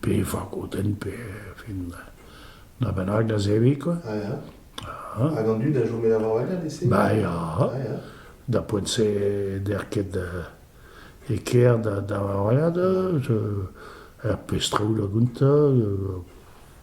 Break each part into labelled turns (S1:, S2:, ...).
S1: pe fakodenn pe fin na bennak da zebriñ quoi. Ah ya.
S2: Ah. Hag an dud a chome da vaouetat ese Ba ya. Ah ya. Da poent-se
S1: der ket e ker da da vaouetat, er pestrou da gontañ,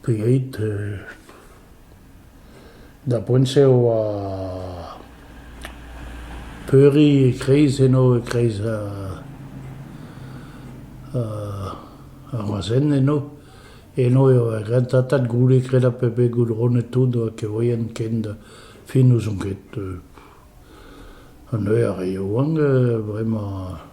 S1: Pegeit da poent-se e oa peuriñ e-kreiz eno e-kreiz ar razen eno. Eno eo ar rentatat goude kredañ p'eo bet goudronnet tout oa kevrien ken fin n'ouzon ket. An eur a yoa bremañ.